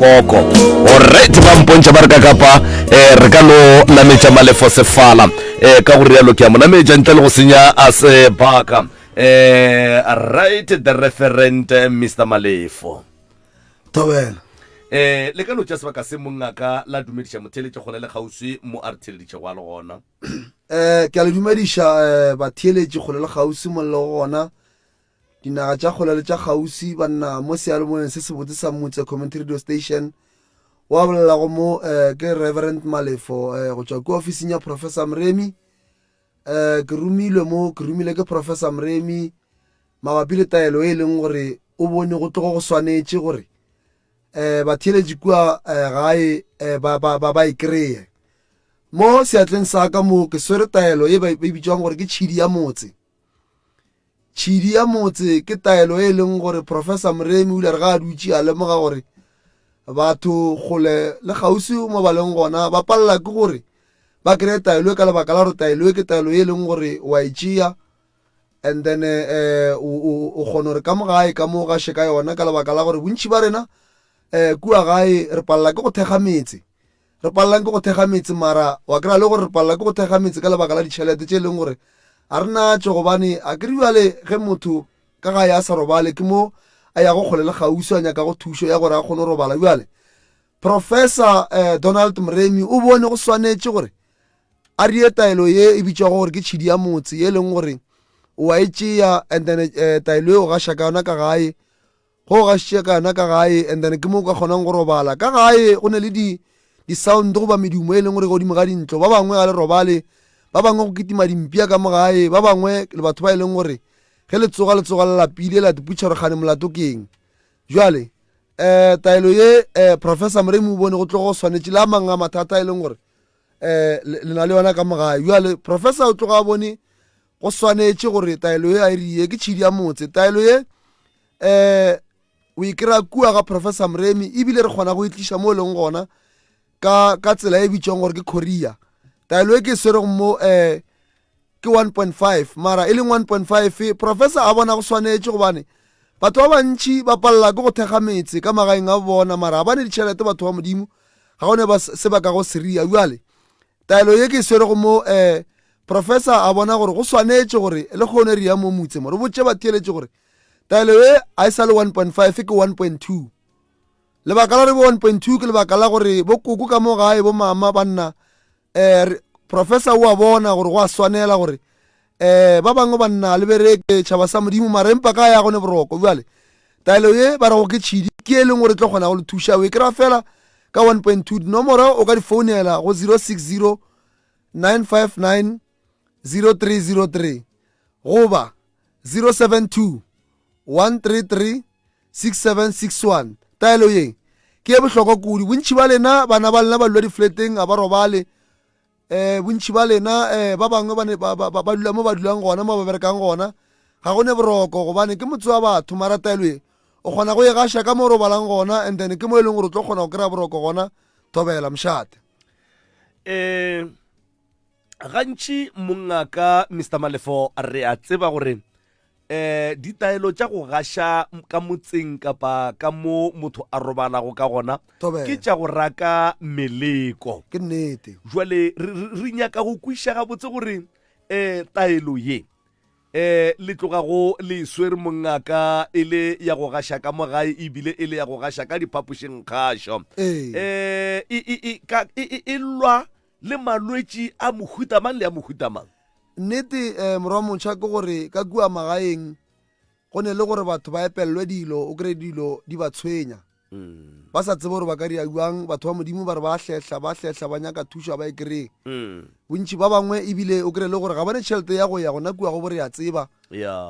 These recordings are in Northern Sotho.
koko orite ba mpontšha ba re ka kapa um re ka no nametša malefo sefala um ka go rialo ke a mo nametša ntle le go senya a sebaka um right the referent eh, mr malefo tobela um le ka no tša sebaka se mongaka la dumediša motheeletše gona le kgauswi mo a re theeleditše go a le gona um ke a le dumediša um batheeletši kgole le kgauswi mollo go gona Dinaga tša kgole le tša kgauswi banna mo seyalemoyeng se sebotse sa mutse community radio station wa bolelago mo eh, ke reverend malefo eh, go tšwa kua ofising ya professor mremi eh, ke romilwe mo ke romile ke professor mremi mabapi le taelo e e leng gore o bone go tlogo go swanetše gore eh, batheeletši kua eh, gae eh, ba, ba, ba, ba e kreye mo seatleng sa ka mo ke swere taelo e ba e bitšwang gore ke tšhidi ya motse Tšhidi ya motse ke taelo e leng gore Professor Moremi o ile a re ga a dutše a lemoga gore batho kgole le kgauswi mo ba leng gona ba palela ke gore ba kry taelo e ka lebaka la gore taelo e ke taelo e leng gore wa e tšea and then um o kgona gore ka mo gae ka mo gaše ka yona ka lebaka la gore bontši ba rena um kua gae re palela ke go thekga metse Re palelang ke go thekga metse mara wa kry-a le gore re palela ke go thekga metse ka lebaka la ditšhelete tše e leng gore ga re natšo gobane a kere bjale ge motho ka gae a sa robale ke mo a yago kgole le kgauswi a nyakago thušo ya gore a kgone go robala. Bjale Professor um Donald Mremi o bone go swanetše gore a reye taelo ye e bitšwago gore ke tšhidi ya motse ye e leng gore o a e tšea and then um taelo eo gaša ka yona ka gae Go gašitše ka na ka gae and then ke mo ka kgonang go robala. Ka gae go ne le di di-sound goba medumo e leng gore godimo ga dintlo ba bangwe ga le robale ba bangwe go kitima dimpia ka mo gae ba bangwe le batho ba e leng gore ge le tsoga le tsoga le lapile la diputšha gore kgane molato keng jale um taelo ye um professor moremi o bone go tlo go swanetše le a mangwe a mathata e leng gore um le na le yona ka mo gae jale professor o tloga a bone go swanetše gore taelo ye a e rie ke tšhidi ya motse taelo ye um o e kry-a kua ga professor moremi ebile re kgona go e tliša mo e leng gona ka ka tsela e bitšwang gore ke korea taelo e ke e swerego mo um ke one point five mara e leng one point five professor a bona go swanetše gobane batho ba bantšhi ba palela ke go thekga metse ka magaeng a bona mara ga ba ne ditšhelete batho ba modimo ga gone ba se ba ka go seria bjale taelo ye ke e swerego mo um Profesa a bona gore go swanetše gore le kgono re ya mo motse mo re botše batheeletši gore taelo ye a e sa le 1.5 ke 1.2 lebaka la re bo 1.2 ke lebaka la gore bo koko ka mo gae bo mama ba nna um professor o a bona gore go a swanela gore um ba bangwe ba nna le bereke tšhaba sa modimo mara empa ka ya gone boroko bjale taelo ye ba rego ke tšhidi ke e leng gore e tlo kgona go le thuša o e kry-a fela ka 1.2 dinomoro o ka di founela go 060 959 0303 goba 072 133 6761 taelo ye ke e bohlokwa kudu bontši ba lena bana ba lena ba lula difleteng ga ba robale um bontši ba lena um ba bangwe ba dula mo ba dulang gona mo ba berekang gona ga go ne boroko gobane ke motse wa batho mara taelo ye o kgona go e gaša ka mo o robalang gona and then ke mo e leng gore o tlo kgona go kry-a boroko gona thobela mošate eh gantši mongaka mr malefo re a tseba gore eh ditaelo tša go gaša ka motseng kapa ka mo motho a robalago ka gona Thobela. ke tša go raka meleko ke nnete jwale re- re re nyaka go kwiša gabotse gore eh taelo ye Ee, le tloga go le e swere mongaka e le ya go gaša ka mo gae e bile e le ya go gaša ka diphapošing kgašo. Ee, e, e, e, ka, e, e, e lwa le malwetši a mohuta mang le a mohuta mang. Nnete, um, morwa motšha ke gore ka kua magaeng go ne le gore batho ba epellwe dilo, o kry dilo di ba tshwenya. Ba sa tsebe gore ba ka dia bjang, batho ba Modimo ba re ba hlehla, ba hlehla, ba nyaka thušo, ga ba e kry-e. Bontši ba bangwe ebile o kry le gore ga ba ne tšhelete ya go ya gona kua go bo re ya tseba,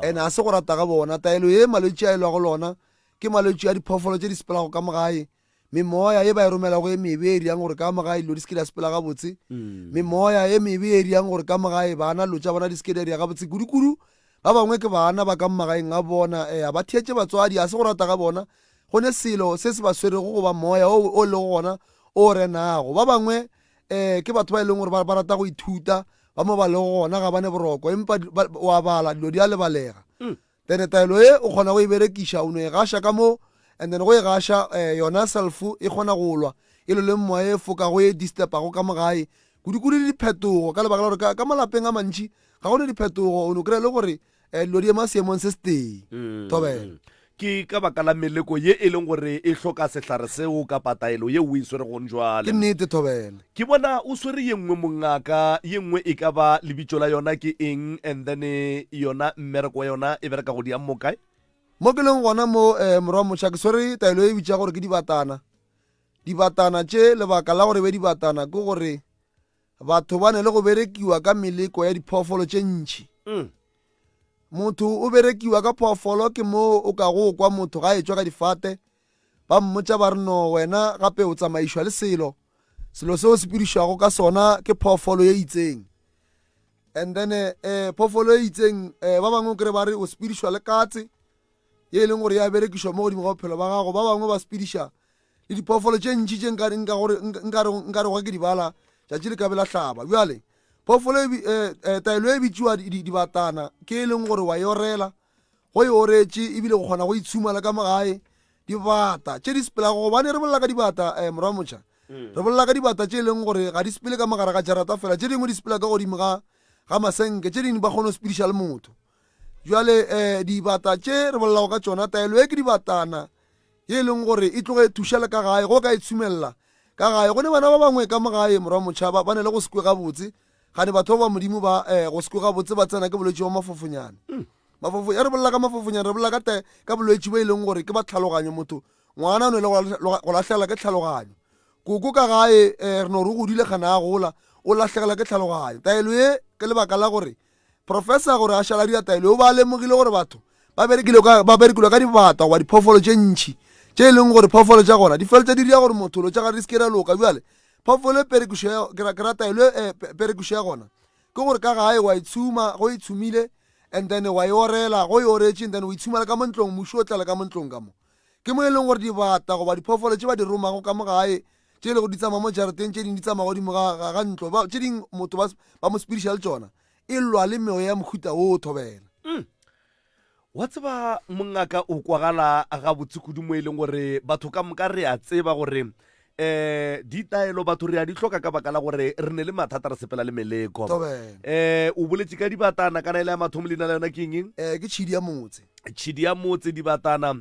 and ga se go rata ga bona. Taelo ye malwetši a e lwago lona ke malwetši a diphoofolo tše di sepelago ka mogae, memoya ye ba e romelago e mebe e riang gore ka mogae dilo di se ke di a sepela gabotse, memoya e mebe e riang gore ka mogae bana dilo tša bona di se ke di a di ya gabotse kudukudu. Ba bangwe ke bana ba ka mmagaeng a bona, ea ba theetše batswadi, a se go rata ga bona, go ne selo se se ba swerego goba moya o o lego gona o renago. Ba bangwe e ke batho ba e leng gore ba rata go ithuta, ba mo ba lego gona ga ba ne boroko, empa o a bala, dilo di a lebalega. Mm. Then taelo e o kgona go e berekiša, o no e gaša ka moo, and then go e gaša eh, yona self e kgona go lwa e loleng moya e fokago e disturbago ka mogae kudu-kudu le diphetogo ka lebaka la gore ka, ka malapeng a mantši ga go ne diphetogo o ne o kry-a le gore um dilo di ema seemong se se teng mm, thobela mm. ke ka baka la meleko ye e leng gore e hloka sehlare seo kapa taelo ye o e swere gong jwale ke nnete thobela ke bona o swere ye nngwe mongaka ye nngwe e ka ba lebitso la yona ke eng and then e, yona mmereko wa yona e bereka go di ammo kae mo ke leng gona mo um morwa mošwa ke swere taelo e bitša gore ke dibatana Dibatana tše, lebaka la gore be dibatana ke gore batho ba ne le go berekiwa ka meleko ya diphoofolo tše ntšhi mm. motho o berekiwa ka phoofolo ke moo o ka go kwa motho ga etswa ka difate ba mmotsa ba re no wena gape o tsamaišwa le selo selo seo se pirišwago ka sona ke phoofolo ye itseng and then eh, eh phoofolo ye itseng eh, ba bangwe kry ba re o sepirišwa le katse ye e leng gore ya berekišwa mo godimo ga bophelo ba gago ba bangwe ba sepediša le diphoofolo tše ntši tše nkarego ke dibala tšatši le ka be la hlaba bjale phoofolo e eh, eh, taelo e bitšiwa dibatana ke e leng gore wa e orela go e oretše ebile go kgona go itshumala ka mogae dibata tše di sepelago gobane re bolela ka dibata um eh, morwa mocha mm. re bolela ka dibata tše e leng gore ga di sepele ka mogare ga jarata fela tše dingwe di sepela ka godimo ga ga masenke tše dingwe ba kgone go sepediša le motho Bjale um dibata tše re bolelago ka tšona, taelo e ke dibatana ye e leng gore e tloge e thuša le ka gae go ka e tshumelela ka gae go ne bana ba bangwe ka mogae morwa motšhaba ba ne le go sekwe gabotse gane batho ba ba modimo ba um go sekwe gabotse ba tsena ke bolwetse wa mafofonyana hmm. mafofo ya re bolela ka mafofonyana re bolela ka te ka bolwetse bo e leng gore ke ba tlhaloganyo motho ngwana o ne le go lahlegela ke tlhaloganyo koko ka gae um re no re godile kgana a gola o lahlegela ke tlhaloganyo taelo ye ke lebaka la gore Professor gore a šala a dira taelo, o be a lemogile gore batho ba berekilwe ka, ba berekilwe ka dibata goba diphoofolo tše ntši tše e leng gore phoofolo tša gona di feletša di dira gore motho lo tša gare di se ke ra loka. Bjale phoofolo e perekišo ya, ke ra, ke ra taelo e eh, pe- perekišo ya gona ke gore ka gae wa e tshuma go e tshumile and then wa e orela go e oretše and then o e tshumela ka mo ntlong mošu o tlale ka mo ntlong ka mo ke mo e leng gore dibata goba diphoofolo tše ba di romago ka mo gae tše e lego di tsamaya mo jarateng, tše dingwe di tsamaya godimo ga, ga, ga ntlo, ba, tše dingwe motho ba, ba mo sepediša le tšona, e lwa le meoya ya mohuta woo, thobela. Mm. Wa tseba, mongaka, o kwagala gabotse kudu mo e leng gore batho ka moka re a tseba gore, ee, ditaelo batho re a di hloka ka baka la gore re ne le mathata, re sepela le meleko. Thobela. Ee, o boletše ka dibatana, kana e le ya mathomo leina la yona ke eng? Ee, ke tšhidi ya motse. Tšhidi ya motse, dibatana.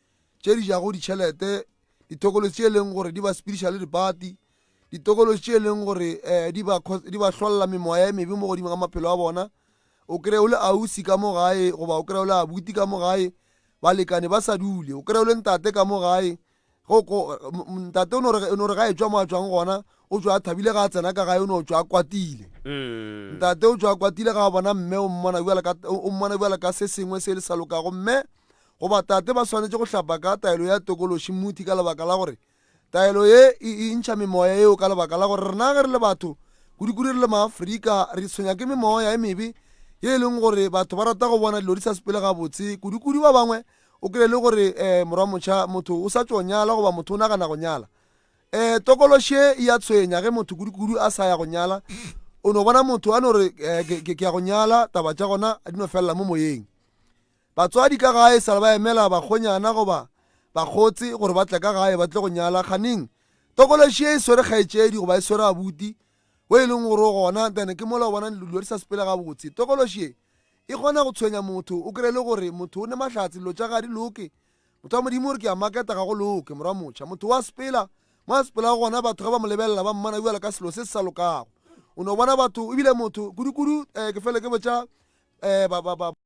tše di jago ditšhelete ditokološi tše e leng gore di ba spiritual dipati ditokološi tše e leng gore um di ba hlolela memoya e mebe mo godimo ga maphelo a bona o kry o le ausi ka mo gae goba o kry o le abuti ka mo gae balekane ba sa dule o kry o le ntate ka mo gae ntate o no re ga e tswa mo a tswang gona o tswa a thabile ga a tsena ka gae o ne o tswa a kwatile mm. ntate o tswa a kwatile ga a bona mme o mmona bjale ka se sengwe se le sa lokago mme Goba tate ba swanetše go hlapa ka taelo ya tokološi mmuthi ka lebaka la gore taelo ye e e ntšha memoya yeo ka lebaka la gore rena ge re le batho kudikudi re le maafrika re tshwenya ke memoya e mebe ye e leng gore batho ba rata go bona dilo di sa sepele gabotse kudikudi ba bangwe o kry le gore um eh, morwa motšha motho o sa tso nyala goba motho o nagana go nyala um tokoloshe e ya tshwenya ge motho kudikudu a sa ya go nyala o no bona motho a no re eh, ke ya go nyala taba tša gona di no felela mo moyeng Batswadi ka gae sale ba emela bakgonyana goba bakgotse gore ba tle ka gae ba tle go nyala. Kganeng tokološi ye e swere kgaetšedi goba e swere abuti wo e leng gore o gona, ntane ke mola o bona dilo di sa sepele gabotse. Tokološi ye e kgona go tshwenya motho, o kry-e le gore motho o ne mahlatse, dilo tša ge ga di loke. Motho wa Modimo o re ke a maketa ga go loke, morwa motšha. Motho wa sepela mo a sepelago gona, batho ge ba mo lebelela ba mmona bjalo ka selo se se sa lokago. O no bona batho ebile motho kudu-kudu um ke fele ke botša um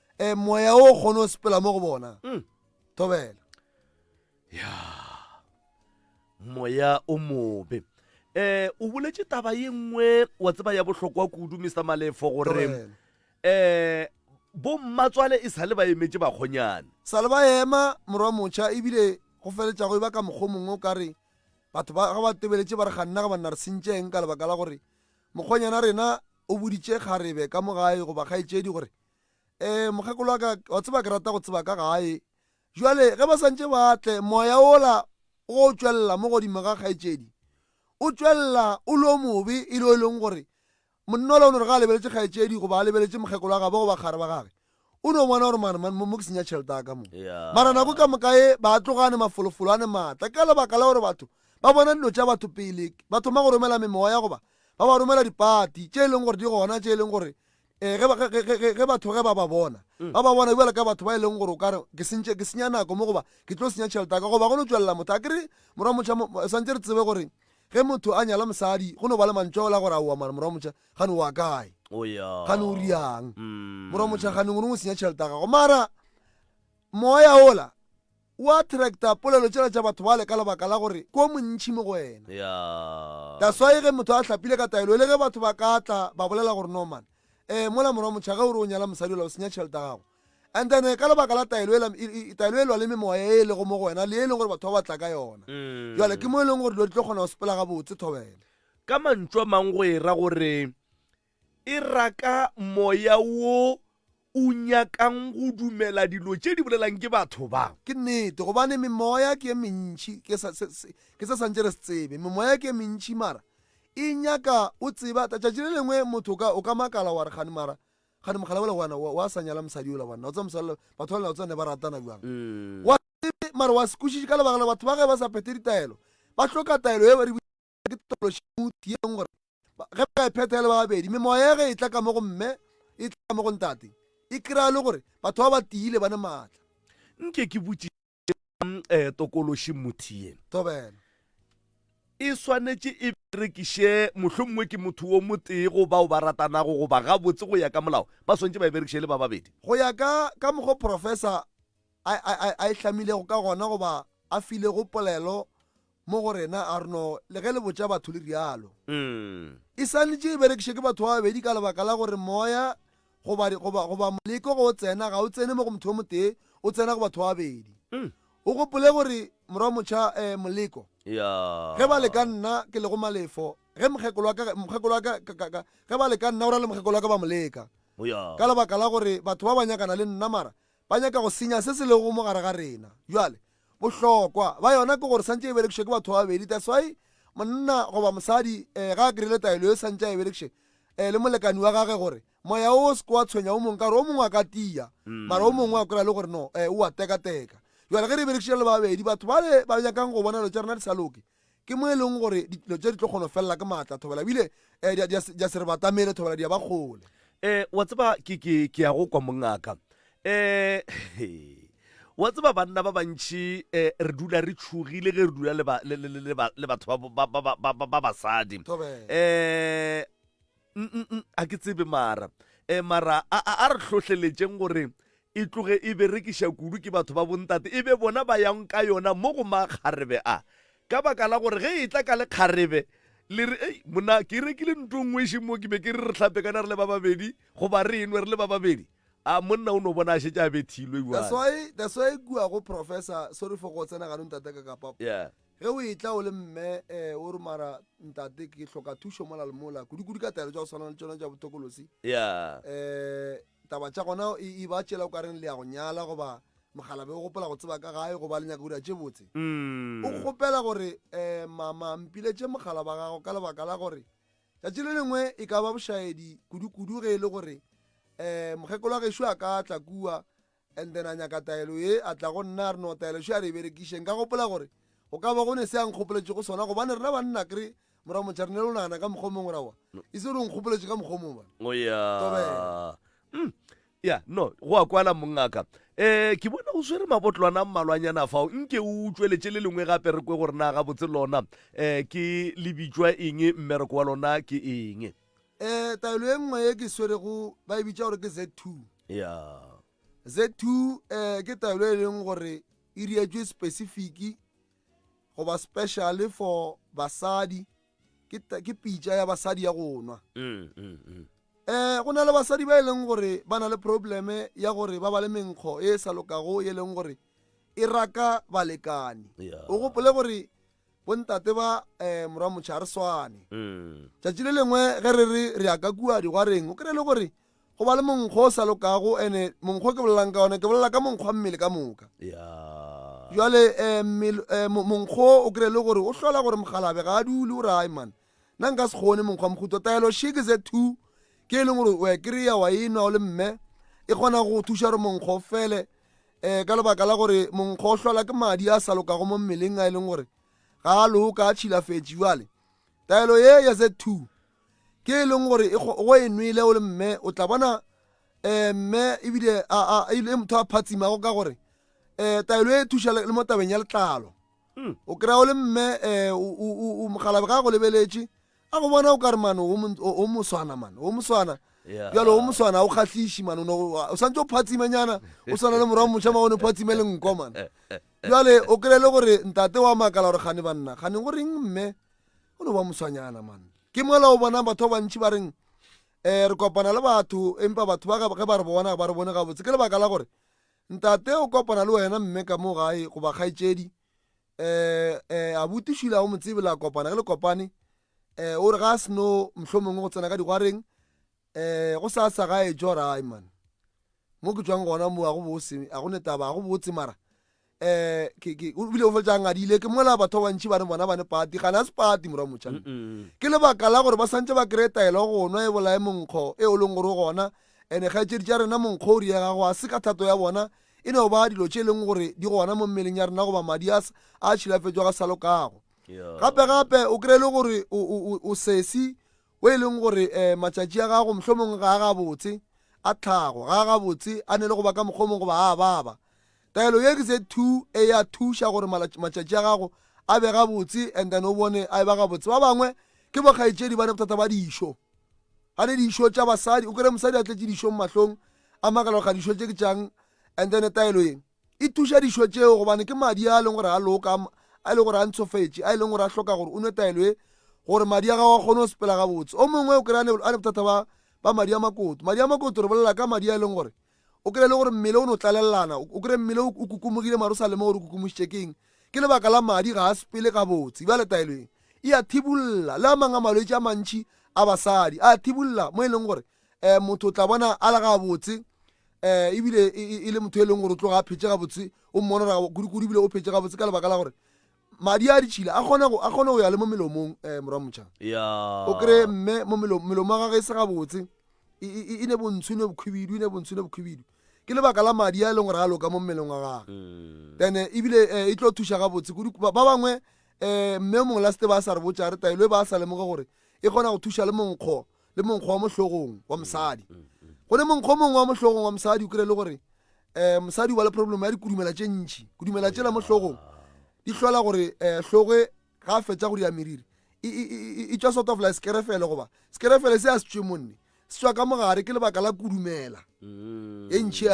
e moya o kgone o sepela mo go bona mm. thobela ya moya o mobe eh o boletse taba ye nngwe wa tseba ya bohlokwa kudu mr malefo gore eh bo mmatswale e sale ba emetse bakgonyane sale ba ema morwa motšha ebile go feletšago e ba ka mokgwa mongwe o ka re batho ba ga ba tebeletse ba re ga nna ga banna re sentšeng ka lebaka la gore mokgonyana rena o boditše kgarebe ka mo gae goba kgaetšedi gore um mokgekolo wa ka wa tseba ke rata go tseba ka gae jale ge ba santse ba tle moya ola go tšwelela mo godimo ga kgaetšedi o tšwelela o lo mobe e le e leng gore monna ola o no re ga a lebeletše kgaetšedi goba a lebeletše mokgekolo wa gabo goba kgare ba gage o no bona gore mane mo ke senya tšhelete ya ka mo mara nako ka moka e ba tlogane mafolofolo a ne maatla ka lebaka la gore batho ba bona dilo tša batho pele ba thoma go romela memoya goba ba ba romela dipati tše e leng gore di gona tše e leng gore Ee, ge ba- ge- ge- ge- ge- ge batho ge ba ba bona, ba ba bona bjalo ka batho ba e leng gore o ka re ke sentše ke senya nako mo goba ke tlo senya tšhelete ya ka goba go no tšwelela motho a ke re morwa motšha mo- mo- swantše re tsebe gore ge motho a nyala mosadi go no ba le mantšwao la gore aowa mara morwa motšha gane o wa kae o ya gane o riang Mm. morwa motšha gane o ne o senya tšhelete ya gago mara moya ola O attracta polelo tšela tša batho bale ka lebaka la gore ke o montši mo go wena. That's why ge motho a hlapile ka taelo ele ge batho ba ka tla ba bolela gore Norman, eh mola morwa mocha ge o re o nyala mosadi ola o senya tšhelete ya gago. And then ka lebaka la taelo ela, taelo e lwa le memoya e elego mo go wena le e leng gore batho ba batla ka yona. Jwale ke mo eleng gore dilo di tlo kgona go sepela gabotse, Thobela. Ka mantšu a mang go era gore E raka moya wo o nyakang go dumela dilo tše di bolelang ke batho ba. Ke nnete, gobane memoya ke e mentši, ke sa, se, se, ke se swantše re se tsebe. Memoya ke e mentši, mara e nyaka, o tseba, ta, tšatši le lengwe motho o ka, o ka makala wa re, kgane, mara, kgane mogala wola wa na, wa, wa sa nyala mosadi yola wa na. O tseba mosadi yola, batho ba na, o tseba ne ba ratana bjang. Wa se tsebe, mara wa se kwešiše ka lebaka la batho ba ge ba sa phethe ditaelo, ba hloka taelo ye ba re, ba ke tokološout ye leng gore ge ba e phetha le ba babedi mme moya ya ge e tla ka mo go mme e tla ka mo go ntate e kry-a le gore batho ba ba tiile ba ne maatla nke ke botšiša um eh, tokološi mothiye thobela e swanetše e berekiše mohlho mongwe ke motho wo motee go bao ba ratanago goba gabotse go ya ka molao ba swantše ba e berekiše le ba babedi go ya ka ka mokgwa professor a e hlamilego ka gona goba a filego polelo mo go rena, a re no le ge le botša batho le rialo. E swanetše e berekišwe ke batho ba babedi ka lebaka la gore moya goba, goba, goba moleko ge o tsena, ga o tsene mo go motho yo motee, o tsena go batho ba babedi. O gopole gore, Morwa Motšha, eh, moleko, ge ba le ka nna, ke le go malefo, ge mokgekolo wa ka, mokgekolo wa ka, ka, ka, ka, ge ba le ka nna, o ra le mokgekolo wa ka ba mo leka, ka lebaka la gore batho ba ba nyakana le nna, mara Ba nyaka go senya se se lego mo gare ga rena. Bjale, bohlokwa bja yona ke gore santše e berekišwe ke batho ba babedi. That's why monna goba mosadi eh, ga a kry-ile taelo ye, santše a e berekiše eh, le molekani wa gage gore moya o se ke wa tshwenya o mongwe, ka gore o mongwe a ka tia, mara o mongwe a kry-a le gore no eh, o a tekateka. Bjale ge re e berekišitše re le ba babedi, batho bale ba nyakang go bona dilo tša rena di sa loke, Ke mo e leng gore dilo tše di tlo kgono felela ke maatla thobela bile eh, di a- di a se re batamele thobela di a ba kgole. Eh, wa tseba ke ke ke ya go kwa mongaka eh he. wa tseba banna ba bantši eh, re dula re tšhogile ge re dula le ba- le- le- le- le ba- le batho ba- ba- ba- ba- ba- ba basadi Thobela. eh mm a ke tsebe mara e mara a, a, a re hlohleletšeng gore e tloge e berekiša kudu ke batho ba bontate e be bona ba yang ka yona mo go makgarebe a ka baka la gore ge e tla ka lekgarebe le re ei mona ke rekile nto nngwe e mo ke be ke re re tlhapekana re le ba babedi goba re enwe re le ba babedi a monna o no bona a šetse a bethilwe that's why that's why kua go professor sorry for go tsena ganong tata ka kapa yeah Ge o etla o le mme, eh, o re, Mara, ntate, ke hloka thušo mola le mola, kudu-kudu ka taelo tša go swana le tšona tša botokolosi. Ya. Eh, taba tša gona e, e ba tšela o ka reng le ya go nyala, goba mokgalabe o gopola go tseba ka gae, goba le nyaka go dira tše botse. Mm. O kgopela gore, eh, mama, mpiletše mogala ba gago ka lebaka la gore tšatši le lengwe e ka ba bošaedi kudu-kudu ge e le gore, eh, mokgekolo wa gešo a ka tla kua, And then a nyaka taelo ye, a tla go nna a re no taelo še a re e berekiše. Nka gopola gore go ka ba go ne se a nkgopoletše go sona gobane rena banna kre mora motšha re ne lo nagana ka mokgwa o mongwe rawa e se re o nkgopoletše ka mokgwa o mongwe bana Oh, ya. Tobela. Mm. Ya, no, go a kwala mongaka. Eh, ke bona o swere mabotlwana a mmalwanyana fao. Nke o utsweletše le lengwe gape re kwe gore na gabotse lona eh ke le bitšwa eng, mmereko wa lona ke eng. um taelo e nngwe e ke swerego ba e bitša gore ke z two ya z two um ke taelo e leng gore e rietswe specific goba special for basadi ke ta- ke pitša ya basadi ya go nwa Mm, mm, mm. um go na le basadi ba e leng gore ba na le probleme ya gore ba ba le menkgo e sa lokago e leng gore e raka balekane ya o gopole gore Bontate ba Morwa Motšhe ga re swane. Tšatši le lengwe ge re re re ya ka kua digwareng, o kry-e le gore go ba le monkgo o sa lokago, ene monkgo ke bolelang ka one, ke bolela ka monkgwa mmele ka moka. Jwale monkgo o kry-e le gore o hlola gore mokgalabe ga a dule, o re ai man, Nna nka se kgone monkgwa mokgutlo taelo sheke ze two ke e leng gore wa kry-a wa e nwa o le mme e kgona go thuša gore monkgwa o fele um ka lebaka la gore monkgwa o hlola ke madi a sa lokago mo mmeleng a e leng gore ga a loka a tšhilafetše jale taelo ye ya ze two ke e leng gore e go e nwele o le mme o tla bona um mme ebile e motho a phatsimago ka gore um taelo e thuša le mo tabeng ya letlalo mm. o kry-a o le mme um mogalabe ga go lebeletše a go bona o ka re mano o moswana mano o moswana bjale o moswana o kgatlhiši mano o swantse o phatsimenyana o swana le morago mošama o ne phatsime le nko mano bjale o kry-e le gore ntate wa makala gore gane banna gane go reng mme o no ba moswanyana mano ke mola o bonang batho ba bantšhi ba reng um re kopana le batho empa batho ba ge ba re bona ba re bone gabotse ke lebaka la gore Ntate o kopana le wena mme ka mo gae goba kgaetšedi, eh, eh, abuti Shula o mo tsebe, la kopana ge le kopane. Eh, o re ga a seno mohlomongwe go tsena ka digwareng, eh, go sa sa gae jorai man. Mo ke tswang gona mo a go bose, a go netaba, a go botse mara. Eh, ke ke o bile o fetsa ngadile ke mola batho ba bantši ba ne bona ba ne pati ga na se pati mora motšana. Ke lebaka la gore ba santse ba kreye taelo go nwa e bolae monkgo e o leng gore o gona And dikgaetšedi tša rena monkgo ri ega go a se ka thato ya bona e no ba dilo tše leng gore di gona mo mmeleng ya rena goba madi a a tšhilafetšwa ga sa lokago gape gape o kry le gore o sesi o e leng gore um matšatši a gago mohlomong ga a gabotse a tlhago ga a gabotse a ne le go ba ka mokgomong goba a baba taelo ye ke se two e ya thuša gore matšatši a gago a be gabotse and then o bone a e ba gabotse ba bangwe ke bokgaetšedi ba ne bothata ba dišo a ne dišo tša basadi o kere mosadi a tletše dišong mahlong a makala ga dišo tše ke tšang and then taelo yeng e tuša dišo tšeo gobane ke madi a leng gore a loka a e leng gore a ntshofetše a e leng gore a hloka gore o nwe taelo e gore madi a gago a kgone go sepela gabotse o mongwe o kry-a ne bothata ba ba madi a makoto madi a makoto re bolela ka madi a e leng gore O kry-e le gore mmele o no tlalellana, o kry-e mmele o kukumogile mare o sa lemoge gore o kukumušitše ke eng. Ke lebaka la madi ga a sepele gabotse. Bjale taelo e, e a thibolla le a mang a malwetši a mantši a basadi. A a thibolla mo e leng gore um motho o tla bona a le gabotse um ebile e, e, e le motho e leng gore o tloga a phetše gabotse, o mmona gore kudu-kudu ebile o phetše gabotse ka lebaka la gore Madi a ditšhila a kgone go a kgone go ya le mo melomong eh morwa motšha. Ya. O kre mme mo melomo melomo ga ge se ga botse. E e e- e ne bontsho ne bokhubidu ne bontsho ne bokhubidu. Ke lebaka la madi a e leng gore a loka mo mmeleng wa gagwe. Mm. Then eh, ebile eh, e tlo thuša ga botse kudu ba ba bangwe eh mme mongwe la sete ba sa re botša re taelo e ba sa lemoge gore e kgona go thuša le monkgo le monkgo wa mohlogong wa mosadi go ne monkgo mongwe wa mohlogong wa mosadi o kry le gore um mosadi o ba le problem ya dikudumela tše ntšhi kudumela tšela mohlogong di hlola gore um hloge ga a fetsa go dira meriri e tswa sort of like sekerefele goba sekerefele se a se tswe monne se tswa ka mogare ke lebaka la kudumela mm. e ntšhi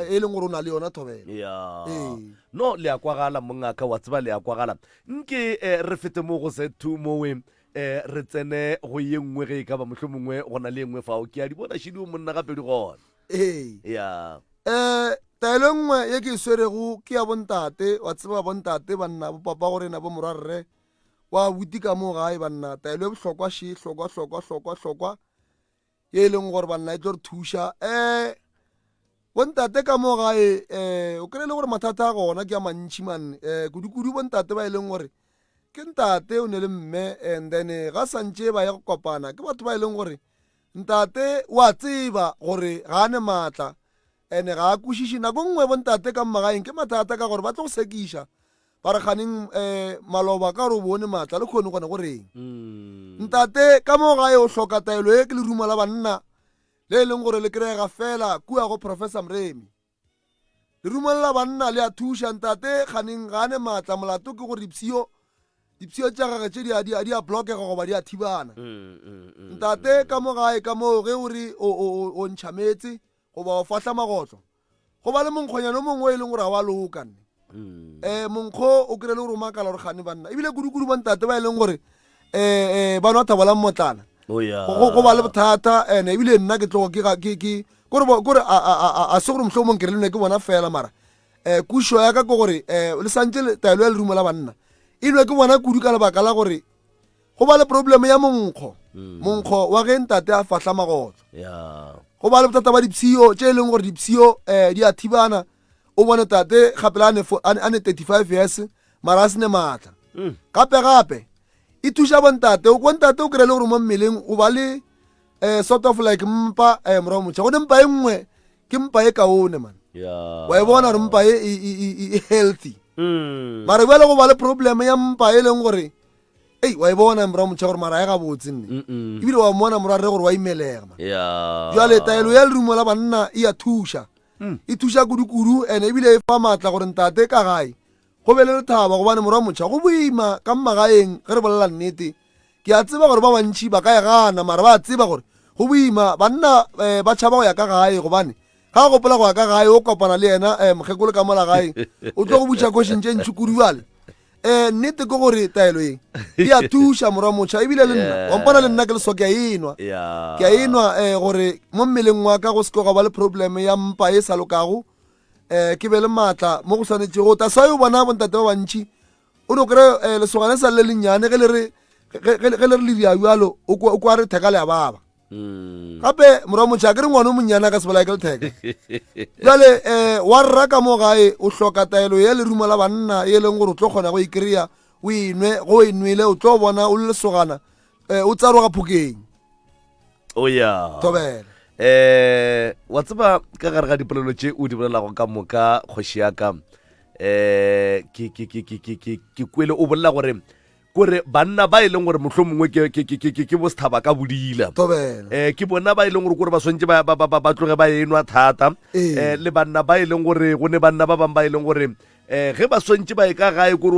e leng gore o na le yona thobelo ee. no le ya kwagala mongaka wa tseba le ya kwagala nke eh, re fete mo go se two mowe E, re tsene go ye nngwe ge e ka ba mohlomongwe go na le e nngwe fao. Ke a di bona šidi o monna ga pedi gona. Ee. Ya. E, taelo e nngwe ye ke e swerego ke ya bontate, wa tseba, bontate, banna, bopapa go rena, bomorwa, rre, wa abuti ka moo gae, banna, taelo e bohlokwa še, hlokwa, hlokwa, hlokwa, hlokwa, ye e leng gore banna e tlo re thuša um bontate ka mo gae um o kry le gore mathata a gona ke a mantšhi manne um kudu-kudu bontate ba e leng gore ke ntate o ne le mme and then ga santše ba ya go kopana ke batho ba e leng gore ntate wa tseba gore ga a ne maatla and-e ga a kwešiše nako nngwe bontate ka mmagaeng ke mathata ka gore ba tlo go sekiša Ba re, Kganeng um maloba, ka gore o bone maatla, le kgone gona go reng? Ntate, ka mo gae o hloka taelo ye ke leruma la banna le e leng gore le kry-ega fela kua go Professor Mremi. Leruma le la banna le a thuša. Ntate, kganeng ga a ne maatla, molato ke gore dipshio dipshio tša gage tše di a- di a- di a blockega goba di a thibana. Ntate, ka mo gae ka moo ge o re o- o o- o ntšha meetse goba o fahla magotlo, go ba le monkgonyana o mongwe o e leng gore ga wa loka nne um monkgo o kry le gore o makala gore gane banna ebile kudu-kudu bontate ba e leng gore um ba nwa thabolang motlana oh, go ba le bothata and ebile nna ke tlogo kore a se gore motlho o mongwe kere le nwe ke bona fela mara um kuso ya ka ke gore um le santse taelo ya lerumo la banna e nwe ke bona kudu ka lebaka la gore go ba le probleme ya monkgo mm. monkgo wa ge ntate a fahla magotlo go ba le bothata ba dipshio tše e leng gore dipshio um eh, di a thibana o bone tate gape la a ne thirty five years mara a sene maatla mm. gape gape e thuša bontate o kontate o kry-e le gore mo mmeleng o ba le um sort of like mpa um eh, morago motšha gone mpa e nngwe ke mpa e kaone man wa e bona gore mpa e, e, e, e healthy mm. mara bjale go ba le probleme ya mpa e leng gore ei wa e bona mora motšha gore mara ya gabotse nne ebile wa mmona mora rre gore wa imelega ma jale taelo ya lerumo la banna e ya thuša mm. e thuša kudu-kudu ene ebile e fa maatla gore ntate ka gae go be le lethaba gobane mora motšha go boima ka mmagaeng ge re bolela nnete ke a tseba gore ba bantšhi ba ka e gana mara ba a tseba gore go boima banna um ba tšhaba go ya ka gae gobane ga gopola go ya ka gae o kopana le yena um mokgekolo ka mola gae o tlo go butša košing tše ntšhi kudu bjale um nnete ke gore taelo e e a thuša morwa motšha ebile le nna wampona le nna ke leso ke a enwa ke a enwa um gore mo mmeleng wa ka go seke gwa ba le probleme ya mpa e sa lokago um ke be le maatla mo go swanetšego ta sa yo bona bontate ba bantšhi o no kry-e um lesogane sa le le lennyane ge le re ge le re le diabjalo o kwa re theka le ya baba Mm. gape morwa motšha a ke re ngwane o monnyana ka sebolaya ke letheka jale um eh, wa rra ka mo gae o hloka taelo ya lerumo la banna e leng gore o tlo kgona go e kry-a o enwe go o enwele o tlo bona o le lesogana um eh, o tsaroga phokeng o ya tobela um wa tseba ka gare ga dipolelo tše o di bolelago ka moka kgoši yaka um ke kwele o bolela gore kore banna ba e leng gore mohlho mongwe ke, ke, ke, ke, ke bosethaba ka bodila um ke bona ba e leng gore kore ba swantse ba, ba, ba, ba tloge ba enwa thata um le banna ba e leng gore go ne banna ba bangwe ba e leng gore um ge ba swantse ba e ka gae kore